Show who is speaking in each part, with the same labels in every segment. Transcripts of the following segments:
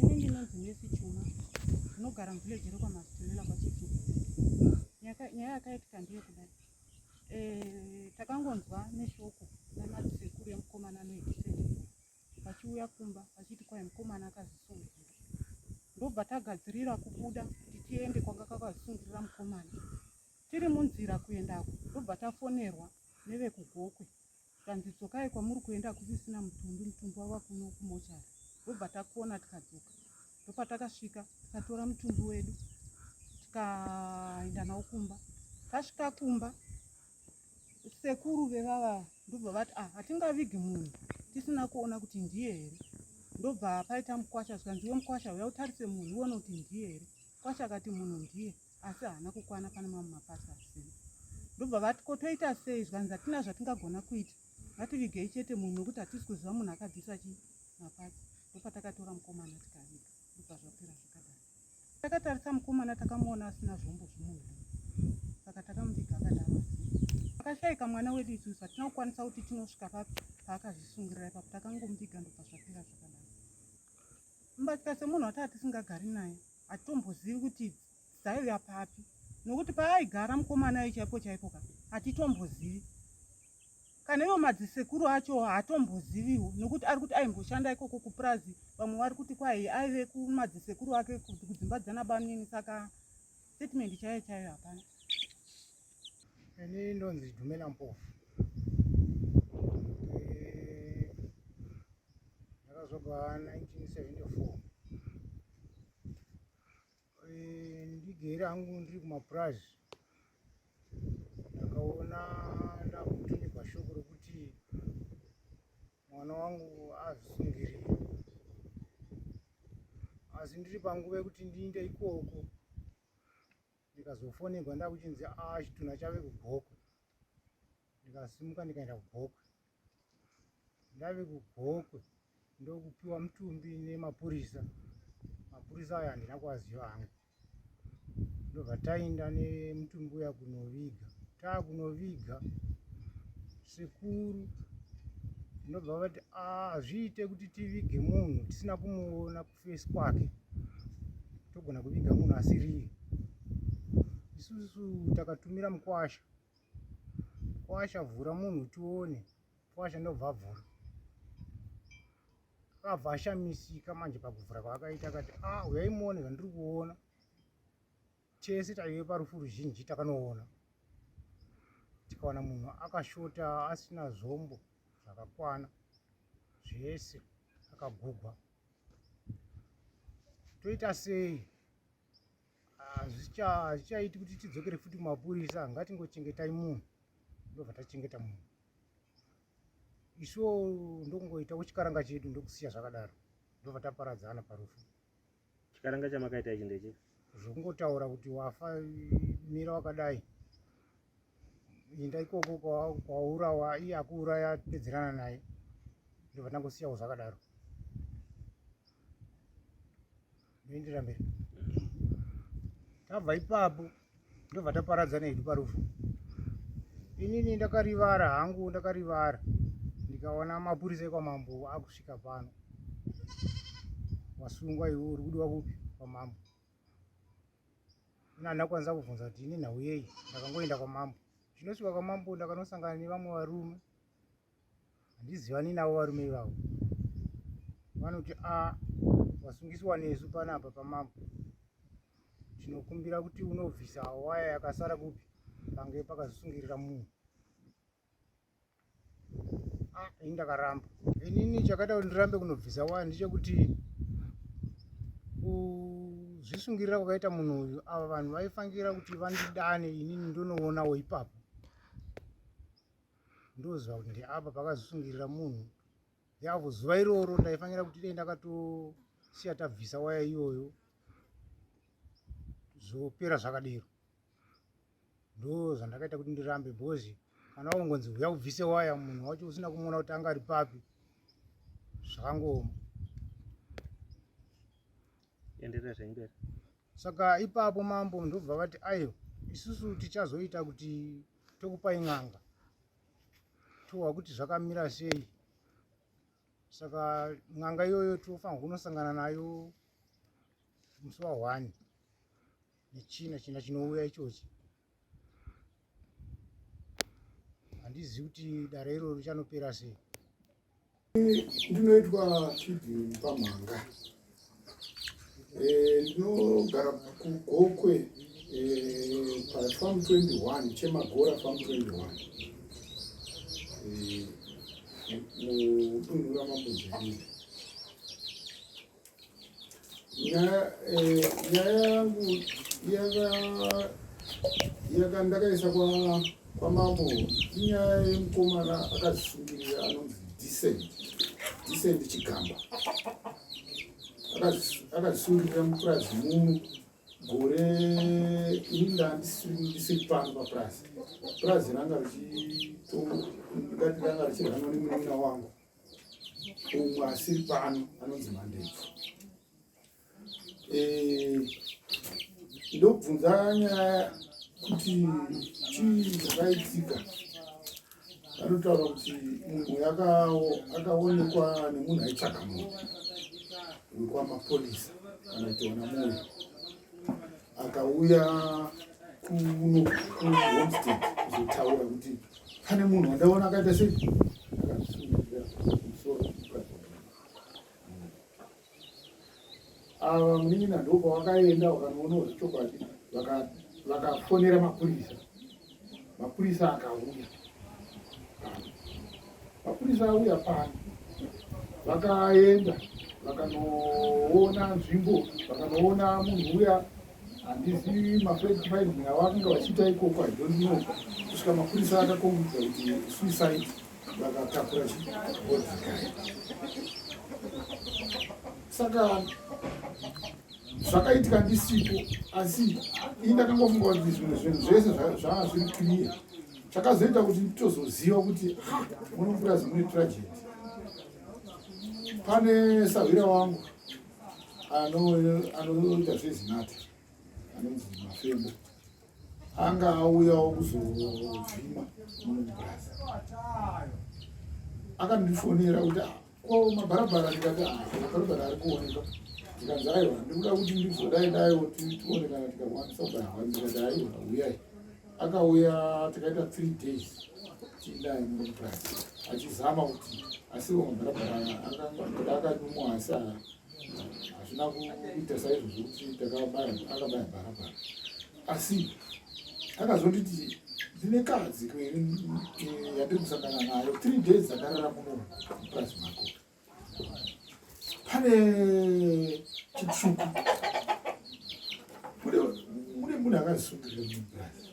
Speaker 1: Ini ndinonzi Mercy Chuma ndinogara muvillage rekwaMasitunela kwaChitu. Nyaya yakaitika ndiyo kudai, eh, takangonzwa neshoko namadzisekuru yemukomana anoekiseni vachiuya kumba vachiti kwai mukomana akazvisungirira, ndobva tagadzirira kubuda kuti tiende kwanga kakazvisungirira mukomana. Tiri munzira kuendako ndobva tafonerwa nevekugokwe Tikanzi dzokai kwamuri kuenda hakusisina mutumbi, mutumbi wava kuno kumochari. Ndobva takona tikadzoka. Ndopatakasvika tikatora mutumbi wedu tikaenda nawo kumba. Tasvika kumba sekuru vevava ndobva vati ah, hatingavigi munhu tisina kuona kuti ndiye here. Ndobva paita mukwasha zvikanzi we mukwasha uya utarise munhu uone kuti ndiye here. Kwasha akati munhu ndiye asi haana kukwana pane mamwe mapasa asina ndobva vati ko toita sei zvikanzi hatina zvatingagona kuita ngativigei chete munhu nokuti hatisi kuziva munhu akabvisa chi mapatsi ndopatakatora mukomana tikaviga ndobva zvapera zvakadai takatarisa mukomana takamuona asina zvombo zvemunhu saka takamuviga akadaro akashaika mwana wedu isusu hatina kukwanisa kuti tinosvika papi paakazvisungirira ipapo takangomuviga ndobva zvapera zvakadai Mba tikase munhu wati atisingagari naye hatitombozivi kuti dzaiuya papi nokuti paaigara mukomana ayo chaipo chaipo ka hatitombozivi kana ivo madzisekuru acho haatomboziviwo nokuti ari kuti aimboshanda ikoko kupurazi vamwe vari kuti kwai aive kumadzisekuru ake kudzimba dzana banini saka statement chaiyo chaiyo hapana Ini
Speaker 2: ndonzi Dumela Mpofu. Eh, ndakazobva 1974 eh, ndigere hangu ndiri kumapurazi ndakaona ndakutumirwa shoko rokuti mwana wangu azvisungirire asi ndiri panguva yekuti ndiinde ikoko ndikazofonerwa ndakuchinzi a ah, chitunha chave kugokwe ndikasimuka ndikaenda kugokwe ndave kugokwe ndokupiwa mutumbi nemapurisa mapurisa ayo handina kuaziva hangu ndobva taenda nemutumbi uya kunoviga taa kunoviga sekuru ndobva vati ah, hazviite kuti tivige munhu tisina kumuona ku face kwake togona kuviga munhu asiriye isusu takatumira mukwasha kwasha vhura munhu tione kwasha ndobva vhura akabva ashamisika manje pakuvhura kwaakaita akati a ah, uyaimuone zvandiri kuona Tese taive parufu ruzhinji takanoona tikawana munhu akashota asina zvombo zvakakwana zvese akagugwa toita sei hazvichaiti kuti tidzokere futi kumapurisa ngatingochengetai munhu ndobva tachengeta munhu isuwo ndokungoitawo chikaranga chedu ndokusiya zvakadaro ndobva taparadzana parufu Chikaranga
Speaker 3: chamakaita ichi ndeche. Zvongotaura kuti
Speaker 2: wafa mira wakadai. Inda ikoko kwaurawa iye akuuraya pedzerana naye. Ndovana kusiyawo zvakadaro. Ndendera mberi. Tabva ipapo. ndobva taparadzana hedu parufu inini ndakarivara hangu ndakarivara ndikaona mapurisa ekwamambo akusvika pano wasungwa iwe uri kudiwa kupi kwamambo ina ndakwanisa kubvunza kuti ini nhau yei ndakangoenda kwamambo zvinosvika kwamambo ndakanosangana nevamwe varume handizivani navo varume ivavo vanoti a ah, vasungiswa nesu panapa pamambo tinokumbira kuti unobvisa waya yakasara kupi pange pakazosungirira munhu a ah, ini ndakaramba inini chakaita kuti ndirambe kunobvisa waya ndechekuti kuzvisungirira kwakaita munhu uyu ava vanhu vaifangira kuti vandidane inini ndonoonawo ipapo ndoziva kuti ndeapa pakazosungirira munhu yavo zuva iroro ndaifanira kuti dai ndakatosiya tabvisa waya iyoyo zvopera zvakadero ndo zvandakaita kuti ndirambe bhozi kana wangonzi huya ubvise waya munhu wacho usina kumuona kuti anga ari papi zvakangooma
Speaker 3: enderera zvaimberi saka
Speaker 2: ipapo mambo ndobva vati aiwa isusu tichazoita kuti tokupai n'anga towa kuti zvakamira sei saka n'anga iyoyo tofanirwa kunosangana nayo musi wa one nechina china chinouya ichochi handizivi kuti dare iroro richanopera sei Ndinoitwa
Speaker 4: feeding pamhanga. Eh, ndinogara kugokwe eh, pafam 21 chemagora fam 21 mudunhu ramambo jiviri nyaya eh, yangu yaka ndakaisa kwamambo inyaya yemukomana akazvisungirira anonzi decent decent chigamba akazvisungirira mupurazi muno gore ini ndandisiri pano papurazi purazi ranga richito ndikati ranga richirhanwa nemunina wangu umwe asiri pano anonzi mandebvu eh, ndobvunza nyaya kuti chii zvakaitika anotaura kuti munhu akaonekwa nemunhu aitsvaka munhu wekwamapurisa kana tiona munhu akauya kuno kuhomestead kuzotaura kuti pane munhu wandaona akaita sei akasungira musoro ava munin'ina ndopawakaenda wakanoona zvechokwadi vakafonera mapurisa mapurisa akauya mapurisa auya pano vakaenda vakanoona nzvimbo vakanoona munhu uya handizivi mafredfinding avakanga vachiita ikoko i don't know kusvika mapurisa akakombidza kuti suicide vakatakura chibodzikaya saka zvakaitika ndisipo asi ini ndakangofunga kuti zvimwe zvinhu zvese zvanga zviri clear chakazoita kuti nditozoziva kuti ha muno mupurazi mune tragedy pane sahwira wangu anoita zvezinata anonzi mafembo anga auyawo kuzovhima mumubasa akandifonera kuti ah, ko mabharabhara ndikati ah, mabharabhara ari kuoneka ndikanzi aiwa ndikuda kuti ndizodai daiwo tione kana tikakwanisa kubairwa ndikati aiwa uyai akauya takaita three days tiindaye mumubasa achizama kuti asiwo mabharabhara akanyumwa asi aa hazvina kuita saizvozvo kuti takabaya akabaya bharabhara asi akazonditi ndine kadzi yandiri kusangana nayo three days dzakarara muno mupurazi mako pane chitsvuku mune munhu akazisungirira mupurazi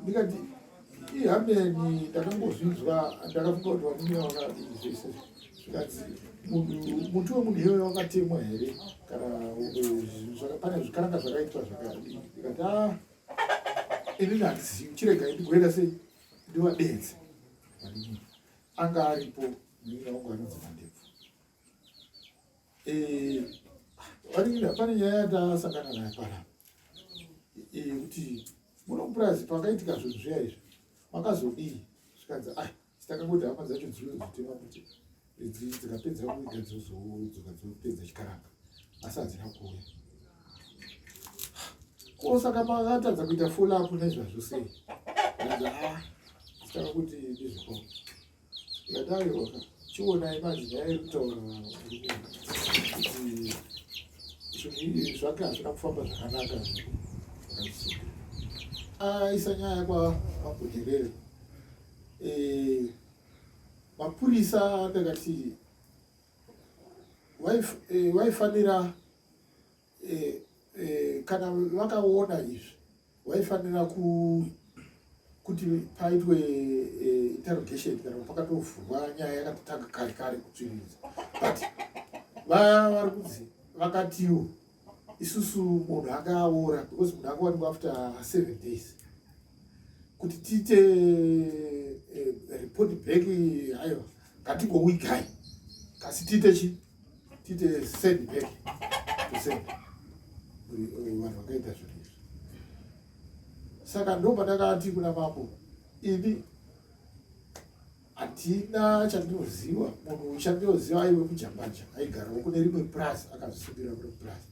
Speaker 4: ndikati ihameni ndakangozvinzwa ndakafunga kuti vamunya vakati zvese zvikati muti wemunhu iyoyo wakatemwa here kana pane zvikaranga zvakaitwa zvakadii ndikati a ah, inini handizivi chirega ndigoenda sei ndivadenze anga aripo munya wangu anonzi mandebvu eh, pane nyaya yatasakana nayo pana eh, kuti muno mupurazi pakaitika zvinhu zviya izvi makazodii zvikanzi ai takangoti hama dzacho dzino dzitema kuti idzi dzikapedza kuita dzozodzoka dzopedza chikaranga asi hadzina kuuya ko saka makatadza kuita follow up nezvazvo sei ah, saka kuti ndizviko Ndataurwa chionai manje nyaya iri kutaura kuti zvake hazvina kufamba zvakanaka aisa ah, nyaya kwamagojerere eh, mapurisa akakati eh, waifanira e, e, kana vakaona izvi waifanira ku kuti paitwe e, interrogation kana pakatovhurwa nyaya yakatotanga kare kare kutsviridza but vari kunzi vakatiwo isusu munhu akaora because munhu akawanikwa after seven days kuti tiite eh, report back hayo ngatingowigai kasi tiite chii tite send back to send vanhu vakaita zvinhu izvi saka ndo pandakati kuna mambo ini hatina chandinoziva munhu chandinoziva aiwe kujambanja aigarawo kune rimwe plus akazvisungirira kune plus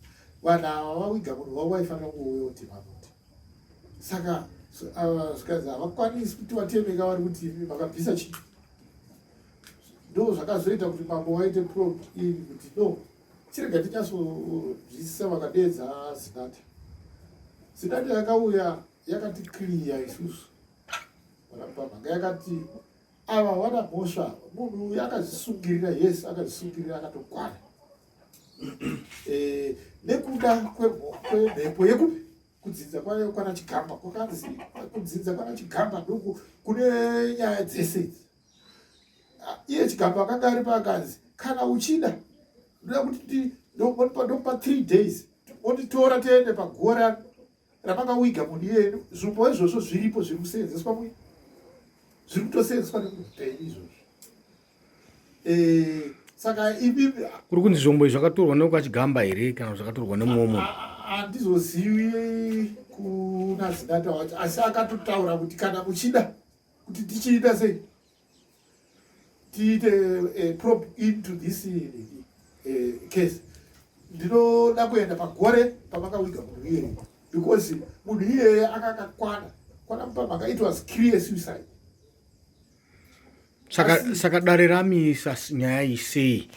Speaker 4: vanhu ava vawiga munhu vavo vaifanira kuuya kuti mamoti saka zvikanzi havakwanisi kuti vatemeka vari kuti makabvisa chii ndo zvakazoita kuti mambo waite prod iyi kuti no chirega tichasozwisisa vakadeedza zinata zinata yakauya yakati kliya isusu vanapamhanga yakati ava vana mhosva munhu uyu akazvisungirira yes akazvisungirira akatokwana eh, nekuda kwemhepo yekupi kudzinza kwayo kwana chigamba kwakanzi kudzinza kwana chigamba ndoku kune nyaya dzese idzi iye chigamba akanga ari paakanzi kana uchida ndoda kuti ndokupa three days otitora tiende paguva ra rapanga wiga mudi yedu zvipo izvozvo zviripo zviri kuseenzeswa mu zviri kutoseenzeswa nemuhupenyu izvozvo eh, saka ibi kuri kunzi zvombo izvi
Speaker 2: zvakatorwa nekwachigamba here kana zvakatorwa nemuomo handizozivi
Speaker 4: kuna zinata wacho asi akatotaura kuti kana muchida kuti tichiita sei tiite eh, probe into this eh, eh, case ndinoda kuenda pagore pamakawiga munhu iyeye because munhu iyeye akakakwana kwana mupamhaka it was clear suicide saka
Speaker 2: saka dare ramisa nyaya isei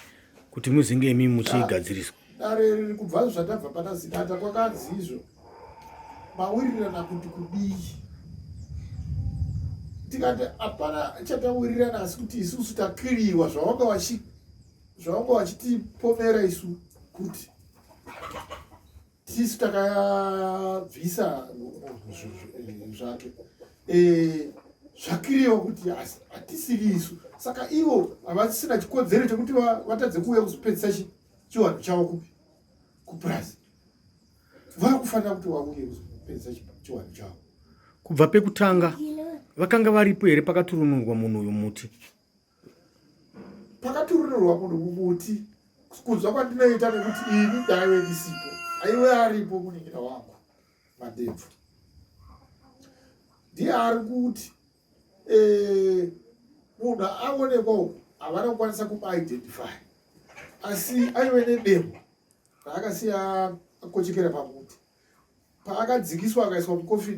Speaker 2: kuti muzinge imi muchiigadziriswa dare kubva
Speaker 4: zvatabva pana zinata kwakanzi izvo mawirirana kuti kudii tikati hapana chatawirirana asi kuti isusu takiriwa zvavanga vachi zvavanga vachitipomera isu kuti tisu takabvisa zvake eh, zvakiriwa kuti hatisiri isu saka ivo havasina chikodzero chekuti vatadze kuuya kuzopedzisa chiwanhu chavo kupi kupurazi vakufanira kuti vauye kuzopedza chiwani chavo kubva
Speaker 2: pekutanga vakanga varipo here pakaturunurwa munhu uyu muti
Speaker 4: pakaturunurwa munhu mumuti kunzwa kwandinoita nekuti ini ndaive ndisipo aiwe aripo munin'ina wangu madebvu ndiye ari kuti eh, munhu aonekwa uku havana kukwanisa kumaidentify asi aive nedemo paakasiya akochekera pamuti paakadzikiswa akaiswa mukofi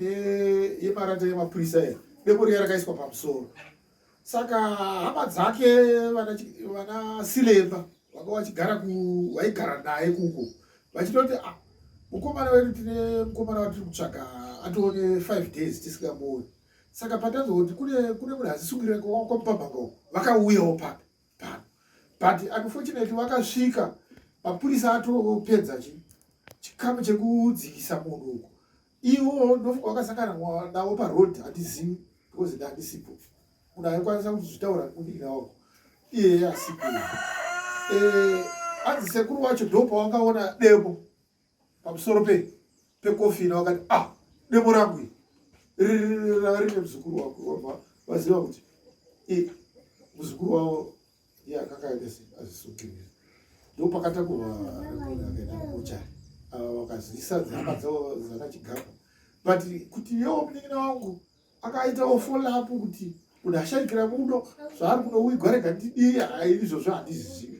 Speaker 4: yemarata yemapurisa ero demo riya rakaiswa pamusoro saka hama dzake vana silemba vanga vachigara vaigara naye kuko vachitoti ah, mukomana wedu tine mukomana watiri kutsvaga atoone five days tisingamuoni saka patanzwa kuti kune kune munhu azisungirira kwamupambanga uko vakauyawo paka pano but unfortunately vakasvika mapurisa atopedza chi chikamu chekudzikisa munhu uko iwo ndofunga wakasangana navo paroad handizivi because ndandisipo munhu aikwanisa kuzvitaura kudii naoko iyeye asipo eh, anzi sekuru wacho ndopawakaona demo pamusoro pe pekofina wakati ah demo rangu iri rine muzukuru wako wabva vaziva kuti muzukuru wavo iye akakaita se azvisukirira ndo pakata kuvaakaitakuchari ava vakazivisa dzihama dzavo dzakachigapa but kuti yewo munin'ina wangu akaitawo follow-up kuti kuti ashaikira muno zvaari kuno uigwarega ndidii izvozvo handizizivi